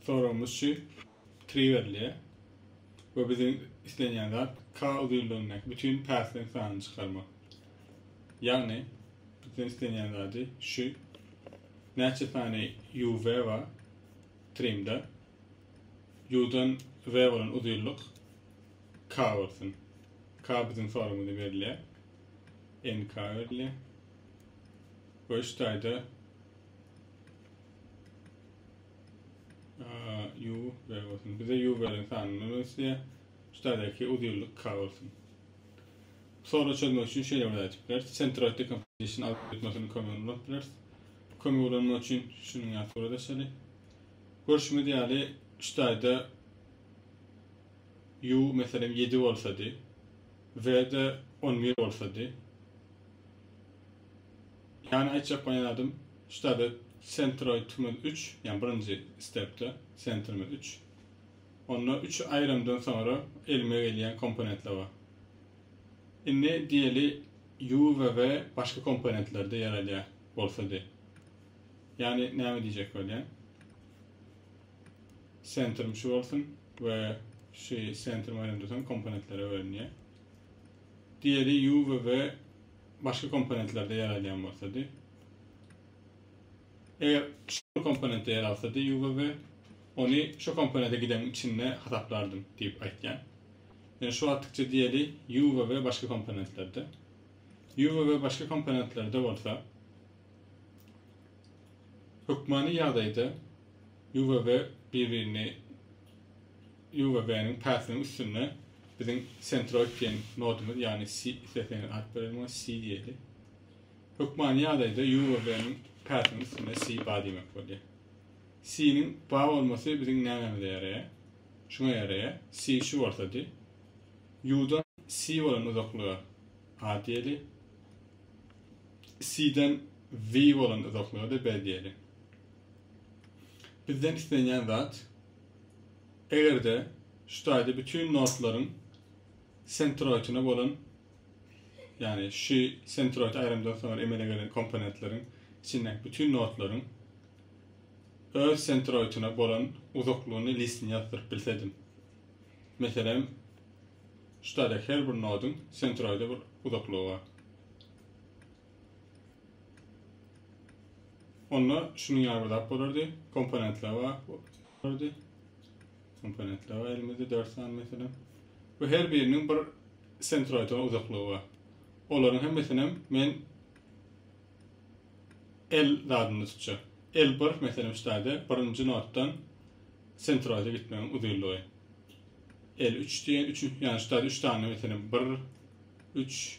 Soragymyz şu, tri berilýär we biziň islenýän zat k uzynlygyndaky bütin päsliň sanyny çykarmak. Ýagny, bizden islenýän zady şu, näçe sany UV bar trimda, U-dan V bolan uzynlyk k bolsun. K biziň soragymyzda berilýär. NK berilýär. We şu taýda Yu bäri bolsun. Bize yu bäriň sanyny ösýä. Üstadaki uzun ýyllyk ka bolsun. Soru çözmek üçin şeýle bir aýdyp biler. Centroid decomposition algoritmasini kömek ulan biler. Kömek ulanmak üçin şunuň ýaly surata şeýle. Görşümiz ýaly üstadda yu meselem 7 bolsady. V-de 11 bolsady. Ýani aýtjak bolýan zadym ştaby sentroýtymyz üç, ýani birinji stepde sentrimiz üç. Onda üç aýramdan soňra elime gelýän komponentler bar. Indi diýeli U we V başga komponentlerde ýer alýar bolsa diý. Ýani näme diýjek bolýan? Sentrim şu bolsun we şu sentrim aýramdan soň komponentlere bölünýär. Diýeli U we V başga komponentlerde ýer alýan bolsady. Eger şu komponentde ýer alsady UVB, ony şu komponente giden içinde hasaplardym diýip aýtýan. Yani şu attıkça diýeli U ve V başga komponentlerde. U ve V başga komponentlerde bolsa hökmany ýagdaýda U ve V bir-birini UWB-niň päsiniň üstünde biziň Centroid diýen nodumyz, ýagny C, isleseňiz at berelim oňa, C diýeli. Hökmany ýagdaýda UWB-niň päsiniň üstünde C bar diýmek bolýar. C-niň bar bolmasy biziň nämemize ýaraýar? Şuňa ýaraýar, C şu bolsady, U-dan C bolan uzaklyga A diýeli, C-den V bolan uzaklyga-da B diýeli. Bizden islenýän zat, Eger-de şu taýda bütün nodlaryň sentroidine bolan, ýagny şu sentroid aýrymdan soňra emele gelen komponentleriň içindäki bütün nodlaryň öz sentroidine bolan uzaklygyny listini ýazdyryp bilsedim. Meselem, şu taýda her bir nodyň sentroide bir uzaklygy bar. Onda şunuň ýaly bir zat bolardy. Komponentler bar. Bolardy. Komponentler bar elimizde 4 sany meselem. Bu her biriniň bir sentroidon uzaklygy bar. Olaryň hemmesini hem men L zadynda tutjak. L1 meselem şu taýda birinji notdan sentroide gitmegiň uzynlygy. L3 diýen, 3 ýa şu taýda 3 sany meselem 1 3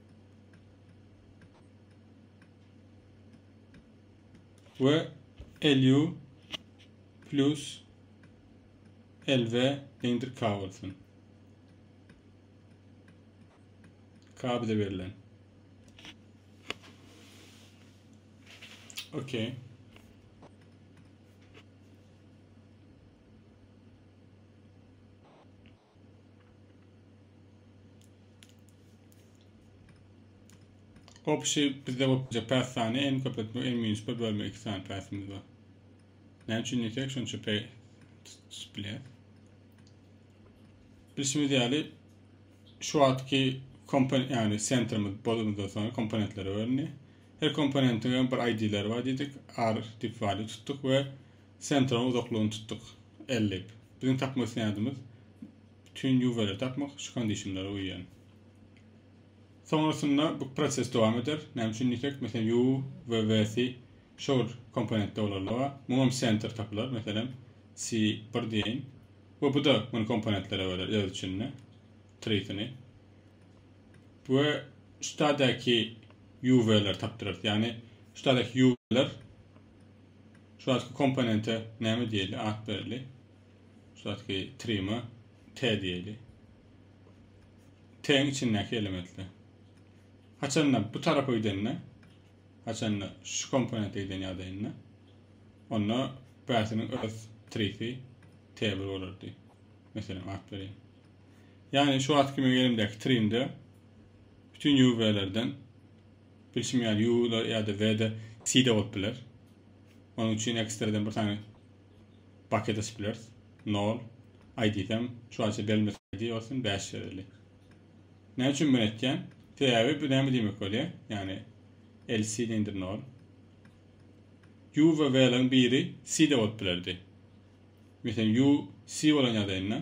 we LU plus LV deňdir K bolsun. K bize berilen. Okay. Gopuşy bizde gopja päs sany en köp etmek en minus 1 bölme 2 sany päsimiz bar. Näme üçin diýsek şonça pe bilýär. Bilşimiz ýaly şu wagtky komponent ýagny sentrimiz bolundan soň komponentlere bölündi. Her komponentiň bir ID-leri bar diýdik. R dip value tutduk we sentrimiň uzaklygyny tutduk. L dip. Biziň tapma isleýänimiz bütin ýuweri tapmak, şu kondişinlere uýýan. Soňrasynda bu proses dowam eder. Näme üçin diýsek, meselem, ýu we we-si şor komponentde bolarlyga, muňam senter tapylar, meselem, si bir diýeýin. We bu-da muny komponentlere böler öz içinde, trisini. We şu taýdaky ýu-we-leri tapdyrarys. Ýagny şu taýdaky ýu-we-ler Şu wagtky komponente näme diýeli, at bereli. Şu wagtky trima T diýeli. T-iň içindäki elementler. Haçanda bu tarapa gidende, haçanda şu komponente giden ýagdaýynda, onda bäsiniň öz trisi T1 bolardy. Meselem, at berýän. Ýagny şu wagtky meň elimdäki trimde bütün UV-lerden Bilşim ýaly U-da ýa-da V-de C-de bolup biler. Onuň üçin ekstreden bir sany baket açyp bileris. Nol I diýsem, şu aýça belmez ID bolsun bäş ýazylýar. Näme üçin muny etýän? Sebäbi bu näme diýmek bolýar? Ýagny LC deňdir nol. U we V-laryň biri C-de bolup bilerdi. Meselem U C bolan ýagdaýynda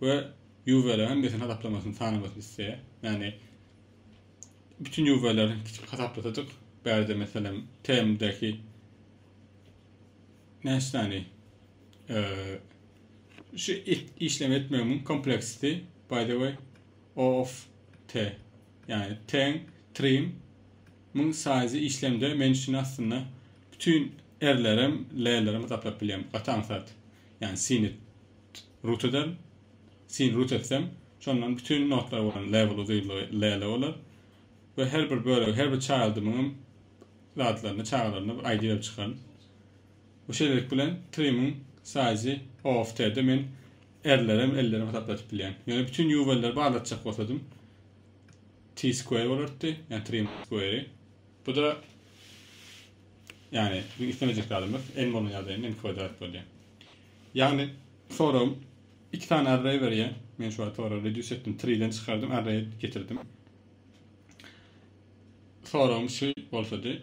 we ýuwweleriň hemmesiniň hasaplamasyny sanamasyny isleýär. Ýagny bütün ýuwweleri hasaplasadyk, bärde meselem TM-däki näçe sany şu işlem etmegiň kompleksiti by the way o of t ýagny ten trim muň size işlemde men üçin aslynda bütün erlerim lelerim hasaplap bilýän gaty aňsat ýagny sinit Rutyda sin rut etsem, şondan bütin notlar bolan level uzynlygy lele bolar we her bir bölegi, her bir çaýyldymyňam zatlaryny, çagalaryny bir ID berip çykaryn. Bu şeýlelik bilen trimyň size-y OFT-de men R-lerem, L-lerem hasaplatyp bilýän. Ýöne bütin UV-leri barlatjak bolsadym, T-square bolardy, ýagny trim square-i. Bu-da, ýagny, islemejek zadymyz, N bolan ýagdaýynda N kwadrat bolýar. Ýagny soragym iki sany array berýär. Men şu wagt ora reduce etdim, tree-den çykardym, array getirdim. Soragym şu bolsady.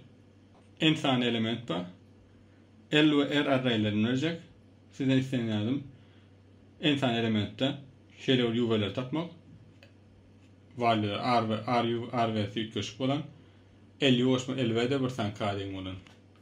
N sany element bar. L we R arraylerini berjek. Sizden isleýän zadym N sany elementde şeýle bir ýuwbeleri tapmak. Valýular R we R, R we S üýtgeşik bolan. L ýuwaşma, L we de bir sany kadeň bolan.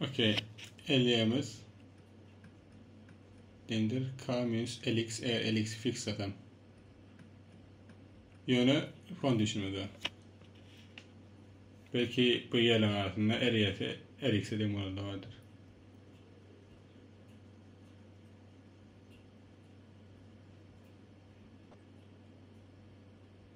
Okey. Elýämiz. Dendir K minus LX e LX fix zaten. Ýöne fon düşünmedi. Belki bu ýerleň arasynda LYS LX deň bolanda bardyr.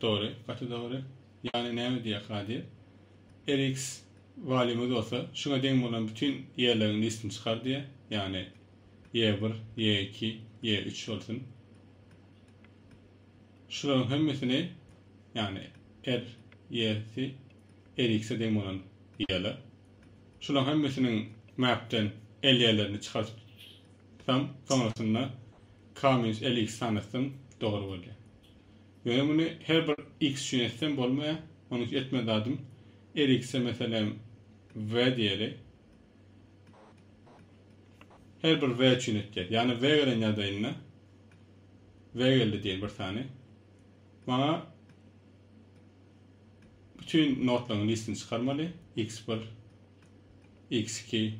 Dogry, gaty dogry. Ýagny näme diýýärka diýip, RX walýumy bolsa şuňa deň bolan bütin ýerleriň listini çykar diýýär. Ýagny ýe bir, ýe iki, ýe üç bolsun. Şularyň hemmesini, ýagny R, ýesi, RX-e deň bolan ýerler. Şularyň hemmesiniň mapden L ýerlerini çykaryp Soň, soňasynda Kamyns Eliks sanatsam dogry bolýar. Ýöne muny her bir X üçin etsem bolmaýar. Onuň üçin etme zadym, Elikse meselem V diýeli. Her bir V üçin etýär. Ýagny V gelen ýagdaýynda V geldi diýeli bir sany. Maňa bütün notlaryň listini çykarmaly. X1, X2,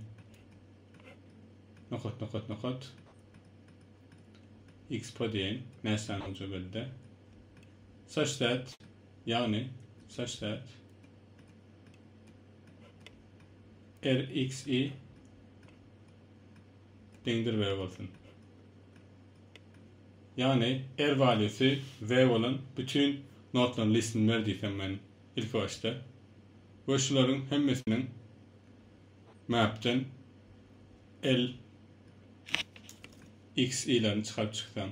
Nokat nokat nokat. Expo diýen näsany uja geldi. Saç zat. Ýagny saç zat. RXI deňdir V bolsun. Ýagny R waliýasy V bolan bütün notlaryň listini ber diýsem men ilki başda. We şularyň hemmesiniň Mapden L X ylaryny çykaryp çyksaň.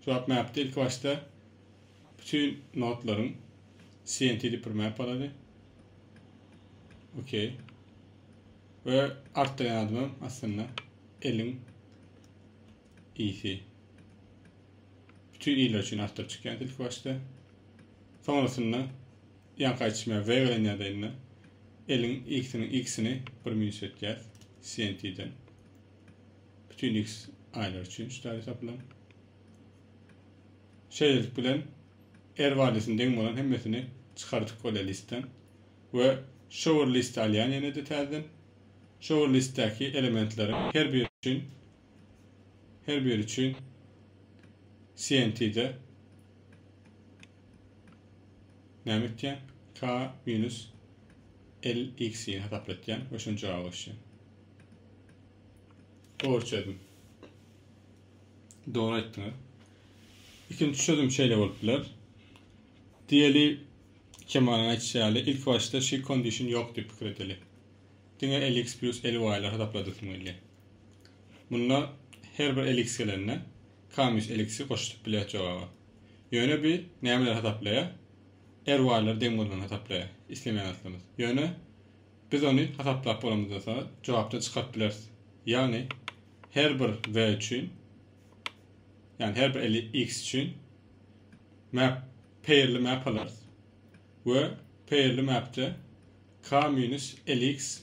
Swap mapde ilki başda bütün nodlaryň CNT dip bir map alady. Okey. Ve artdyrýan adamym aslynda L-iň iyisi. Bütün iýler üçin artdyryp çykýan ilki başda. Sonrasynda Ýaňky aýtşym ýaly zeý gelen ýerde indi eliň x-niň x-ini bir minus etýäs cnt-den. Bütin x aýlar üçin şu däl hesaplaň. Şeýlelik bilen r barýasyna deň bolan hemmesini çykardyk bolýar listden. We şo bir list alýan ýene-de täzeden. Şo bir listdäki elementleriň her biri üçin Her biri üçin CNT-de näme etýän? K minus LX-i hasaplatýan we şuny jogap ýazyşýan. Dogry çözüm. Dogry aýtdyňyz. Ikinji çözüm şeýle bolup biler. Diýeli Kemalyň aýtýşy ýaly, ilk başda şu condition ýok diýip pikir edeli. Diňe LX plus LY-lar hasapladyk diýmeli. Munda her bir elix gelende Kamyş elixi goşup bilýäs jogaba. Ýöne bi nämeleri hasaplaýar? RY-lar deň bolmany hasaplaýar. Islemeýän zatlymyz. Ýöne biz ony hasaplap bolamyzdan soňra jogapdan çykaryp bileris. Ýagny her bir we üçin ýagny her bir elix üçin map pairli map alarys. We pairli mapde K-elix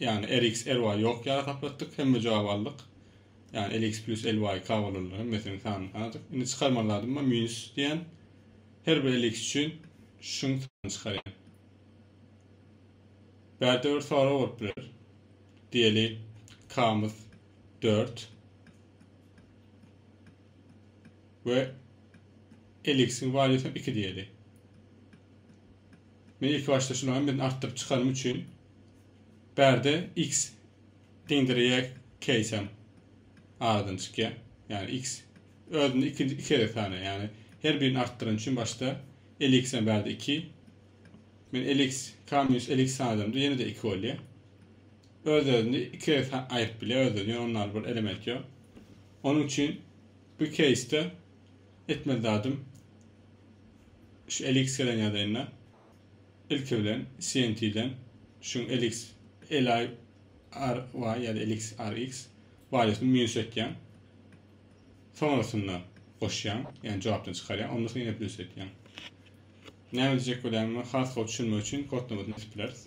Ýagny RX RY ýok ýaly hasap etdik, hemme jogaby aldyk. Ýagny RX Plus LY K bolanlar hemmesiniň sanyny sanadyk. Indi çykarmaly zadym bar minus diýen. Her bir RX üçin şuň sanyny çykarýan. Bärde bir sorag bolup biler. Diýeli K-myz 4 we RX-iň waliýasy 2 diýeli. Men ilki başda şularym bilen artdyryp çykanym üçin bärde x deňdir y keýsem aradan çykýa. Ýagny x özüni iki iki gezek sanaýa. Ýagny her birini artdyran üçin başda lx hem bärde 2. Men lx k minus lx sanadymda ýene de 2 bolýa. Öz özüni iki gezek aýryp bilýä öz özüni. Ýöne onda bir element ýok. Onuň üçin bu keýsde etmeli zadym şu elix gelen ýadaýynda ilki bilen CNT-den şuň elix eli RY ýa-da elix RX baýosny minus etýän. Soňrasynda goşýan, ýagny jogapdan çykarýan, ondan soň ýene plus etýän. Näme diýjek bolýan men has gowy düşünmek üçin kod nobatyny edip bileris.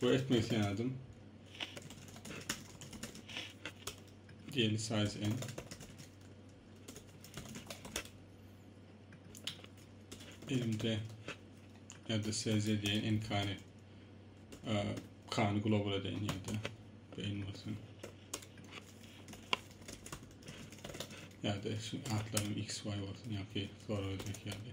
we etmek isleýädim. Diýeli size en. Elimde elde size diye en kani kani global edeyin yerde beyin olsun. Ya da şu atlarım x, y olsun ya ki sonra ödek yani.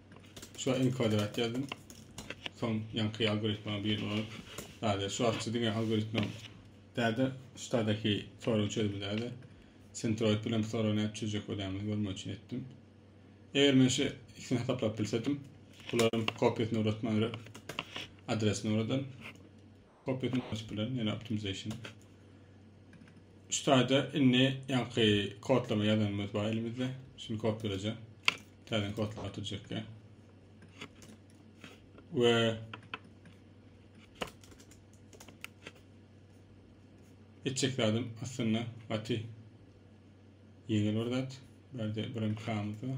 Şu enkodrat ýazdym. Soň ýaňky algoritma bir ol däde şu arçy diňe algoritma däde ştadaki sorag çözümi däde sentroid bilen sorag näp çözjek bolýamy görmek üçin etdim. Eger men şu ikisini hasaplap bilsedim, bularyň kopýasyny uratman adresini uradan. Copy etmek açyp bilen ýene optimization. Şu taýda indi ýaňky kodlama ýazanymyz bar elimizde. Şuny kopýalajak. Täze kodlama atyrjak ýa. We etjek zadım aslında gaty ýeňil bir zat. Bärde birim kamyz bar.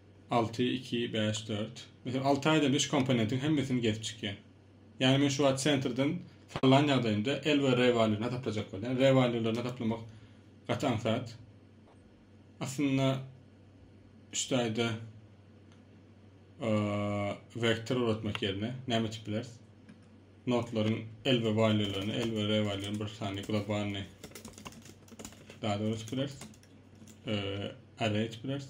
Alty, iki, bäş, dört. Meselem, alty aýda üç komponentiň hemmesini gezip çykýan. Ýagny men şu wagt sentrden sallan ýagdaýymda L we R walýuny hasaplajak bolýan. R walýularyny hasaplamak gaty aňsat. Aslynda üç taýda vektor uratmak ýerine näme etip bileris? Notlaryň L we walýularyny, L we R walýularyny bir sany globalny dada urup bileris. Array etip bileris.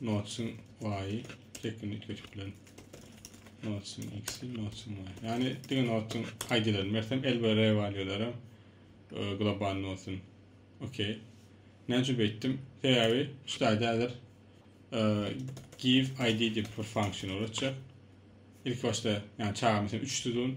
Notsiň y-y çekini üýtgedip bilen. Notsiň x-i, notsiň y-y. Ýagny diňe notsiň ID-lerini bersem, L we R waliýalary globalny bolsun. Okey. Näme üçin beýtdim? Sebäbi şu taýda häzir give id diýip bir funksiýa ugradyjak. Ilki başda, ýagny çaga meselem 3 tutun.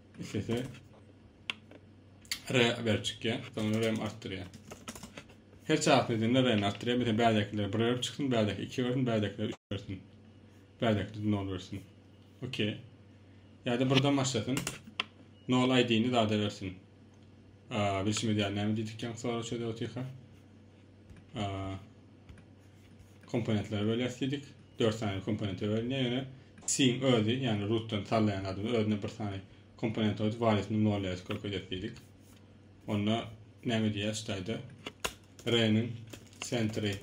Islese re berip çykýar. Soňra rem artdyrýar. Her çarpy edende rem artdyrýar. Mesela bärdekiler 1 berip çyksyn, bärdeki 2 bersin, bärdekiler 3 bersin. Bärdekiler 0 bersin. Okey. Ýa-da birden başlasyn. 0 ID-ni zada bersin. Bilşimiz ýaly näme diýdik ýaňky sorag çözüp otyrka. komponentlere bölýäs diýdik. 4 sany komponente bölünýär. Ýöne C-iň özi, ýagny rootdan sallaýan adam özüne bir sany komponent goýup, waliýetini nolýa skok edýäs diýdik. Onda näme diýýäs ştaýda? R-niň sentri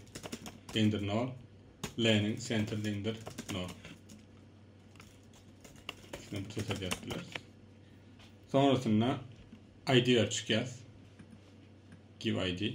deňdir 0, L-niň sentri deňdir 0. Şunu bir çeşit edýäs biler. Sonrasynda ID-ä çykýas. Give ID.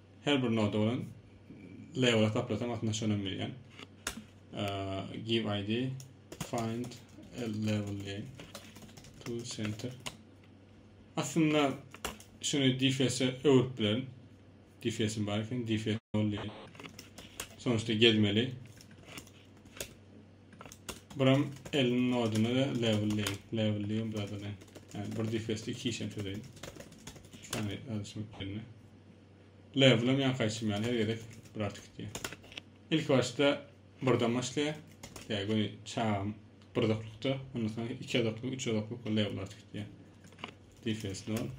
Her bir noda bilen label hasaplasaň aslynda şonam diýýän. Give ID find a level diýen. To center. Aslynda şuny DFS-e öwürip bilerin. DFS-im bar eken, DFS ol diýen. Sonuçta gezmeli. Buram elin noduna da level diýen. Level diýen burada da. Yani bir DFS-de iki işem çözeyin. Şu tane alışmak yerine. Level hem ýaňky aýtşym ýaly her gezek bir artyk gitýär. Ilki başda birden başlaýar. Ýa göni çagam bir uzaklykda, ondan soň iki uzaklyk, üç uzaklyk we level artyk gitýär. Defense nol.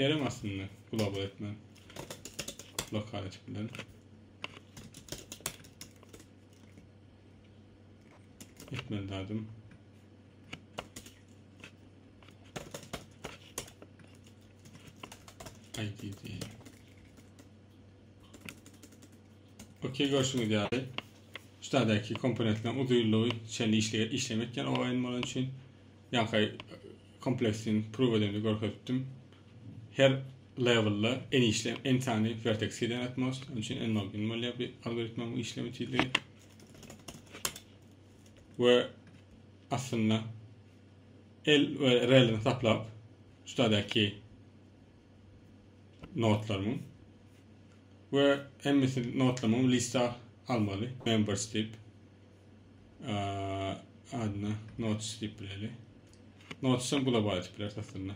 Ýerem aslynda global etmän. Lokal etip bilen. Etmeli zadım. IDD. Okey görüşüňiz ýaly. Şuradaki komponentler uzunluğu şeýle işle işlemek ýaly oýun bolan üçin ýa-da kompleksin proof edeni görkezdim. Her levelda en işle en sany vertex eden atmos. Onun için en login bolýar bir algoritmanyň işleme tizligi. we aslynda el we relini saplap şudaky notlarymyň we hemmesi notlamam lista almaly members dip adına notes dip bileli notesam global etip biler aslynda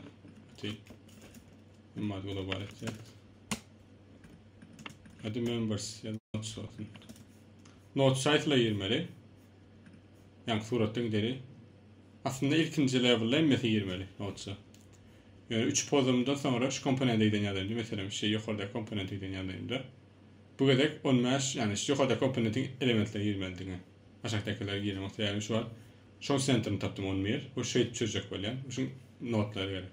Emma global etýär. Hadi members ya da notes olsun. Not şaýsla girmeli. Ýaňky suratda gideri. Aslynda ilkinji lewelda hemmesi girmeli notsa. Ýöne 3 pozumdan soňra şu komponente giden ýagdaýynda, meselem, şu ýokardaky komponente giden ýagdaýynda bu gezek 15, ýagny şu ýokardaky komponentiň elementleri girmeli diňe. Aşakdakylar giremok. Sebäbi şu wagt şoň sentrini tapdym 11. Bu şeýdip çözjek bolýan. Şuň notlary gerek.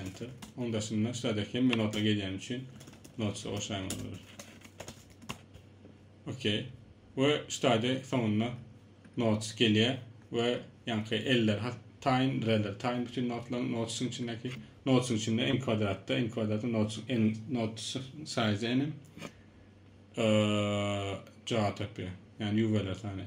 Enter. Onun daşynda şurada hemme nota gelýän üçin notsa goşaýmaly bolar. Okey. We şurada soňunda notes gelýär we ýaňky eller hat taýyn, reller taýyn bütün notlaryň notesyň içindäki notesyň içinde n kwadratda, n kwadratda notes n notes size n jogap tapýar. Ýani ýuweler sany.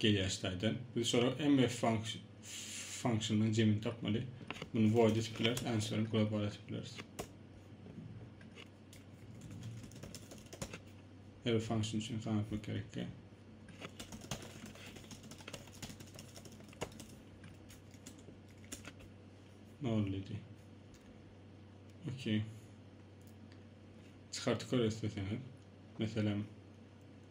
Gelýär staýdan. Biz şolara mf function-dan jemini tapmaly. Muny void etip bileris, answer-ni global etip bileris. Her bir function üçin kan etmek gerekli. Nol dedi. Okey. Çıkartıp görürsün sen. Mesela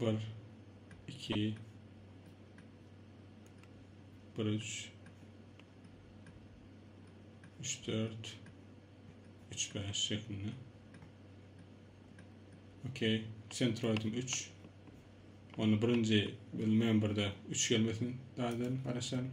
Bir, iki, bir, üç, üç, dört, üç, beş şeklinde. Okey, sentroidim üç. Onu birinci bir memberda üç gelmesin, daha da araşalım.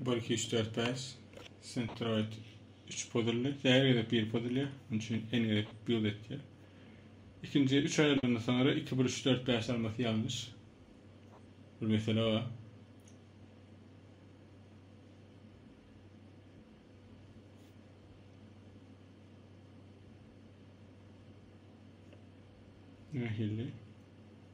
Bir, iki, üç, dört, bäş. Sentroid üç pozully. Her gezek bir pozulýa. Onun üçin en gezek bir etýär. İkinci üç aýrylanda sonra iki, bir, üç, dört, bäş almasy ýalňyş. Bir mesele bar. Nähili?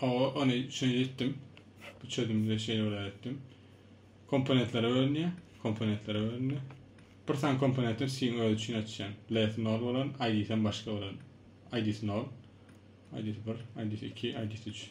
Awa, ony şeýle etdim. Bu çözümde şeýle bir etdim. Komponentlere bölünýär. Komponentlere bölünýär. Bir sany komponentler siziň öz üçin açýan. Less nol bolan, ID-sen başga bolan. ID-si nol. ID-si 1, ID-si 2, ID-si 3.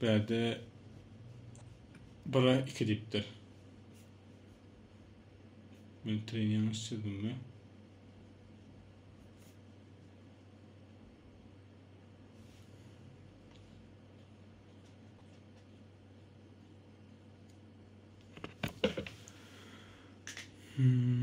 Bärde bire iki diýipdir. Men tren ýalňyş çyzdymmy? Hmm.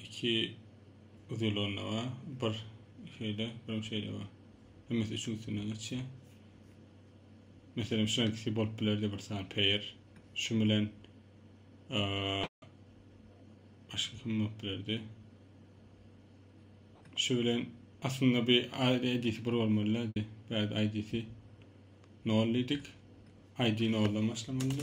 iki uzylanda bar. Bir şeýle, bir şeýle bar. Hemmesi üçin üstünden geçýär. Meselem, şu ikisi bolup bilerdi bir sany pair. Şu bilen başga kim bolup bilerdi? Şu bilen aslynda bir ID-si bir bolmalydy. Bad ID-si 0 diýdik. ID 0-dan başlamalydy.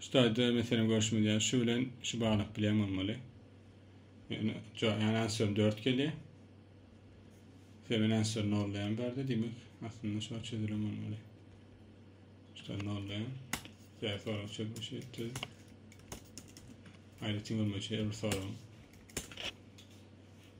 Şu taýda meselem görşümiz ýaly şu bilen şu baglyk bilen bolmaly. Ýöne ýöne answer 4 gelýär. Seven answer nollaýan barda diýmek aslynda şu çözülen bolmaly. Şuda nollaýan. Ýa sorag çözmüş etdi. Aýratyn görmeçe bir sorag.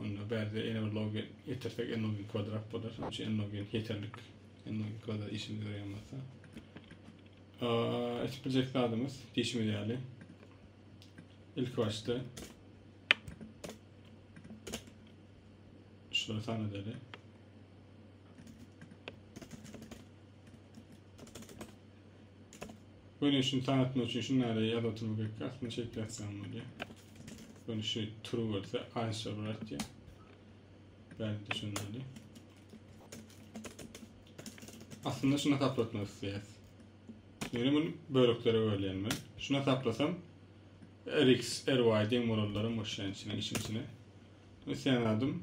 Onda bärde ene bir logen ýetirsek n logen kwadrat bolar. Şonuň üçin n logen ýeterlik. n logen kwadrat işimize ýaraýan bolsa. Etip biljek zadymyz diýşimiz ýaly. Ilki başda şulary sanadaly. Görnüşini tanatmak üçin şunlara ýaz oturma gerek. Aslynda şeýdip ýazsaň bolýar. Görnüşi turu bolsa aşa bir atýar. Bäri düşünmeli. Aslynda şuna taplatmak isleýär. Ýöne muny böleklere bölýän men. Şuna taplasam rx, ry deň bolanlarym boşýan içine, işin içine. Isleýän adym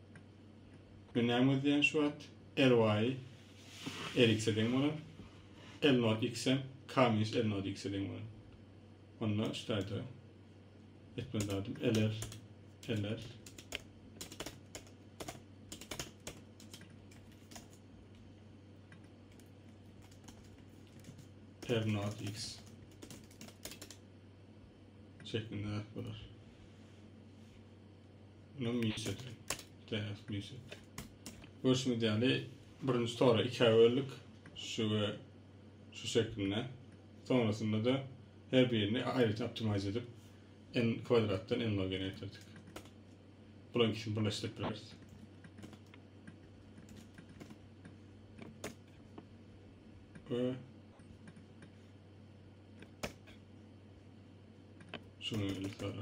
Günäm gözleýän şu at, RY Eriks-e deň bolan, L-Note X hem K-Muse L-Note X-e deň bolan. Onda şu taýda etmeli zadym LR, LR, R-Note X şeklinde zat bolar. Bunu mis et. Däs mis et. Görüşüňiz ýaly birinji tora ikä böldük. Şu we şu şeklinde. Sonrasynda da her birini aýratyn optimize edip n kwadratdan n log n getirdik. Bulan ikisini birleşdirip bileris. Ve şunu yukarı.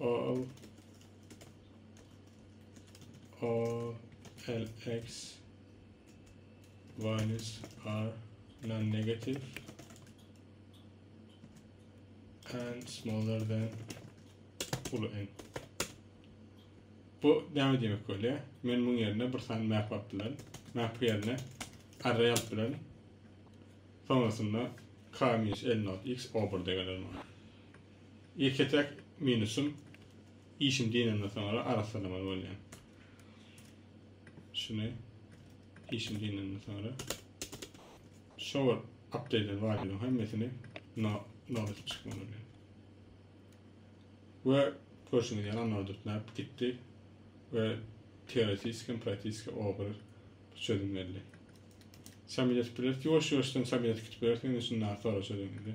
Al all lx values are non-negative and smaller than ulu n. Bu näme demek bolýar? Men muň ýerine bir sany map alyp bilerin. Map ýerine array alyp bilerin. Soňrasynda k-1 x o1-de geler maňa. Ýeke-täk minusym, işim dynandan soňra arassalamaly bolýan. Şuny işim dynandan soňra şower update barýan hemmesini no no edip çykmaly bolýan. Ve görşüňiz ýaly anordut näp gitdi ve teoretiski, praktiki ogry çözüm berdi. Samylet bilet, ýuwaş-ýuwaşdan samylet gitip bilersiň, indi şunda soraşadyň indi.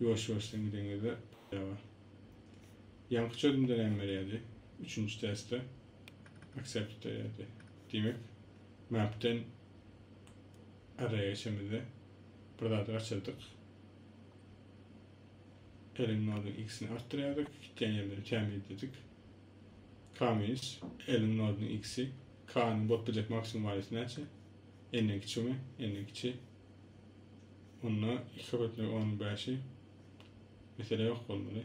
Ýuwaş ýuwaşdan gideňizde ýaga. Ýaňky çözümde näme berýärdi? Üçünji testde accept berýärdi. Diýmek mapden arraya geçemizde bir zady gaçyrdyk. Elin noduň x-ini artdyrýardyk, gitýän ýerleri tämizledik. K minus elin noduň x-i k-nyň bolup biljek maksimum waliýsy näçe? N-den kiçigimi? N-den kiçi. Onda iki köpetlik on bäşi mesele ýok bolmaly.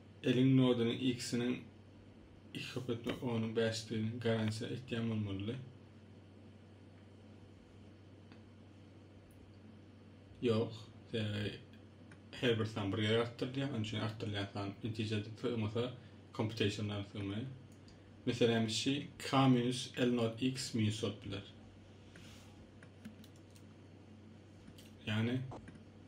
Eliň nodynyň ikisiniň iki köpet we onuň bäşdigini garantiýa etýän bolmalydy. Ýok, sebäbi her bir san bir ýere artdyrylýar, onuň üçin artdyrylýan san netijede sygmasa, kompýuteşnlar sygmaýar. Meselämiz şi, k minus l nod x minus bolup biler. Ýagny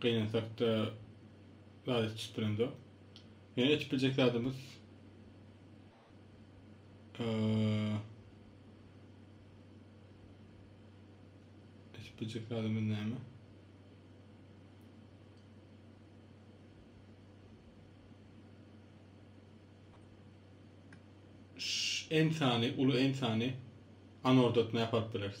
Gynansak-da zat etjek bilemzok. Ýöne etjek biljek zadymyz etjek biljek zadymyz näme? Ensany, uly ensany anordatma ýaparyp bileris.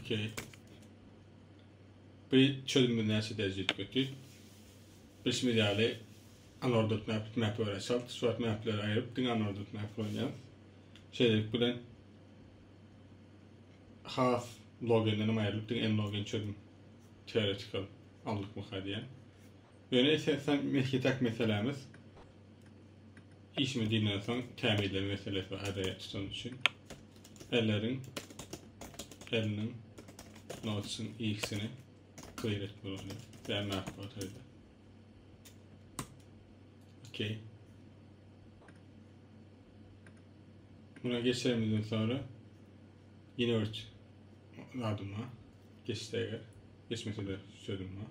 Okey. Bu çözümde näçe derejä ýetmekçi? Bilşimiz ýaly, unordered map, bitmap we result. Şu wagt mapleri aýryp, diňe unordered map bilen oýnaýarys. Şeýlelik bilen has logenden hem aýrylyp, diňe n-logen çözüm teoretikal aldykmyka diýýän. Ýöne esasan mesletak meselämiz işimi diýenden soň tämizleme meselesi bar adayat tutan üçin elleriň eliniň notçyň ikisini clear et bolany ýa map bolady okey buna geçerimizden sonra yine bir adım var geçse eger geçmese de sözüm var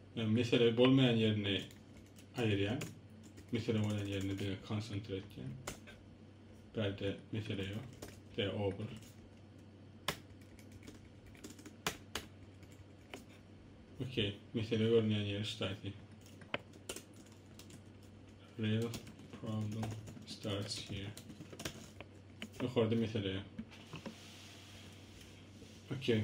Yani mesele bolmayan yerini ayıryan. Mesele bolan yerini de konsantre etken. Berde mesele yok. De obur. Okey. Mesele görünmeyen yeri ştaydi. Real problem starts here. Yukarıda mesele yok. Okey.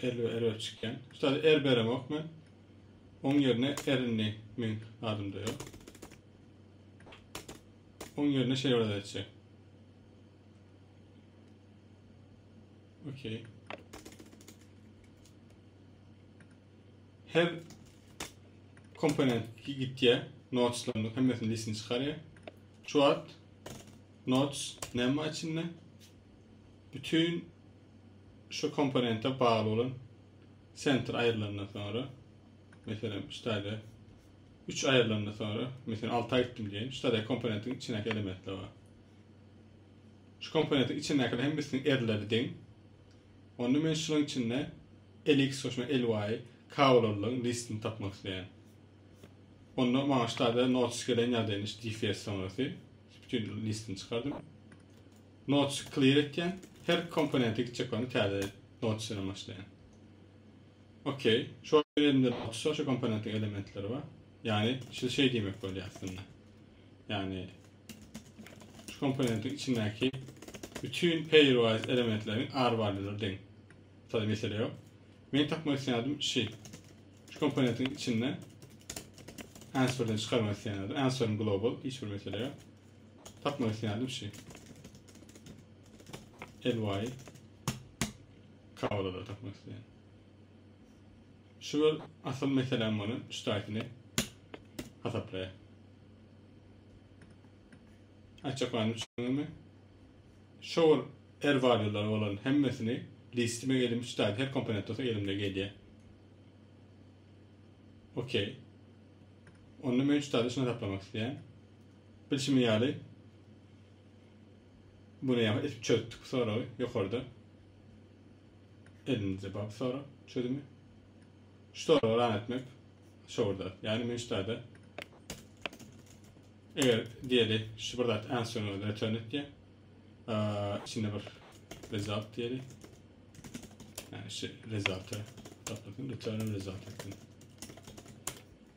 Elbe erber çykýan. Ustad er beremok men. Oň ýerine erinli men adymda ýok. Oň ýerine şey bir etjek. Okey. Her komponent gitýä, noteslarymyň hemmesini listini çykarýa. Şu wagt notes näme içinde? bütin şu komponente bagly bolan sentr aýrylandan soňra, meselem, şu taýda 3 aýrylandan soňra, meselem, 6-a gitdim diýeýin. Şu taýda komponentiň içindäki elementler bar. Şu komponentiň içindäkiler hemmesiniň erleri deň. Onda men şunuň içinde lx goşma ly kabulalyň listini tapmak isleýän. Onda maňa şu taýda notes gelen ýagdaýyny şu dfs soňrasy bütün listini çykardym. Notch clear etýän. Her komponente gitjek bolanda täze notch bilen başlaýan. Ok. Şu elimde notch şu komponentiň elementleri bar. Ýagny şu şey diýmek bolýar aslynda. Ýagny şu komponentiň içindäki bütün pairwise elementleriň arwalýulary deň. Sada mesele ýok. Men tapmak isleýärdim şi. Şu komponentiň içinde answerden çykarmak isleýärdim. Answer global hiç bir mesele ýok. Takmak isteýändim şu. Elwaý. Kawalada takmak isteýän. Şu bir asyl meselem muny şu taýsyny hasaplaýar. Açyk bany düşünme. Şol erwalýlar bolan hemmesini listime elim şu taýda her komponent olsa elimde gelýär. Okey. Onda men şu taýda şunu hasaplamak isteýän. Bilşimiz ýaly, bu näme edip çözdük bu soragy, ýokarda elimizde bar bu sorag çözümi. Şu soragy ran etmek şowurda. Ýagny men şu taýda eger diýeli şu bir zat answerňi return et diýen. Içinde bir result diýeli. Yani şu result'ı toplasın, return result etsin.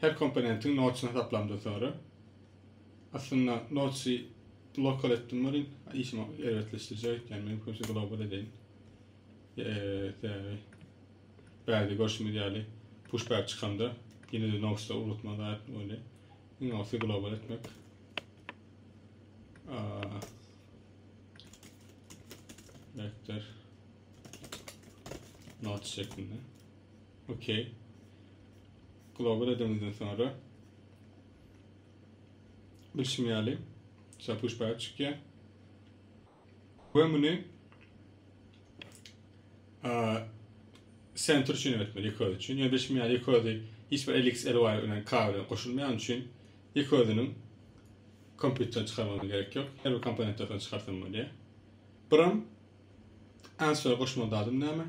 Her komponentiň nodesyny hasaplamdan soňra, aslynda nodesy lokal etdim welin, işimi erbetleşdirjek öýtýän men köpüsi global edeýin. Sebäbi bärde görşümiz ýaly pushback çykanda ýene-de nodesda ugratma zat bolýar. Iň gowusy global etmek. Vektor nodes şeklinde. OK. Global edemizden soňra bilşim ýaly şa push back çykýar. We muny center üçin etmeli iki öz üçin. Yani bilşim ýaly iki özi hiç bir LX, LY bilen K bilen goşulmaýan üçin iki özüniň kompýuterden çykarmagyna gerek ýok. Her bir komponentden çykarsam bolýar. Biram answer goşmaly dadym näme?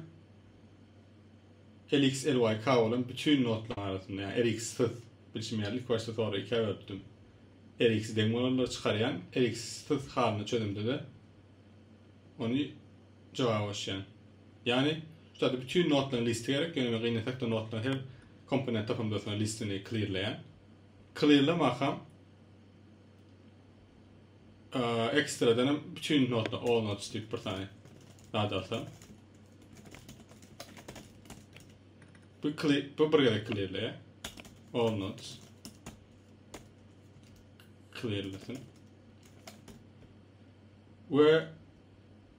RxLYK bolan bütin notlaryň arasynda, ýagny Rxsyz, bilşim ýaly, ilki başda tora ikä bölüpdim. Rx deň bolanlary çykarýan, Rxsyz halyny çözemde-de ony jogaba goşýan. Ýagny, şu taýda bütin notlaryň listi gerek, ýöne men gynasak-da notlaryň her komponent topamdasyna listini klirleýän. Klirlemakam. ekstradan hem bütün notda all notes diýip bir sany zat alsam. Bu klip bu bir gezek klirle. All notes. Klirlesin. Ve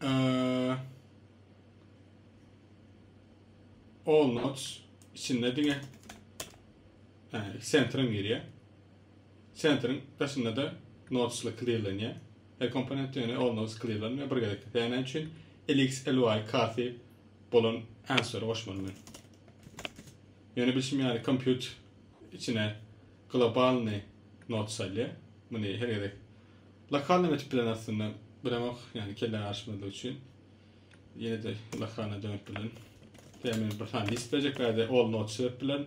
e, all notes içinde diňe yani center'ım giriyor. Sentriň daşynda-da notchly klirlenýär. Her komponent ýöne ol-note sklirlenmär, bir gezekde dänä üçin LXLY karty bolan answer goşmaly men. Ýöne bilşim ýaly compute içine globalny note salýar. Muny her gezek lokalnym etip bilen aslynda biremok, ýagny kellä garyşmazlyk üçin. Ýene-de lokalna dönüp bilen. Tä men bir sany list berjek bärde all note sebäp bilen.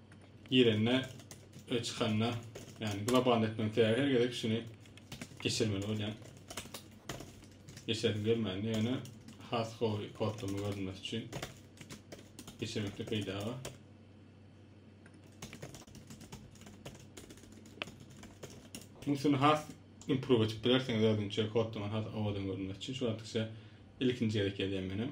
girende we çykanda yani global etmek her gezek şunu geçirmeli bolýan. Geçerim gelmedi yani has gowy kodlama görünmesi için geçirmekde peýda bar. Musun has improve edip bilersiňiz özünçe kodlama has owadan görünmesi için şu wagtça ilkinji gezek edýän menem.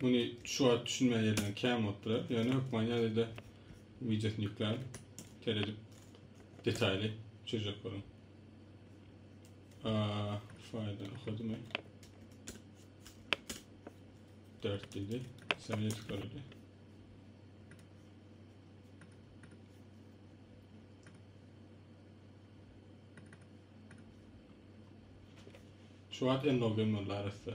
Muny şu wagt düşünmän ýerden kän bolup durar. Ýöne hökman ýazyda wideosyny ýükläň. Seredip detaýly çözjek boluň. Aa, faýldan okadymy? 4 dedi. Sen ne çıkardı? Şu an en login var arası.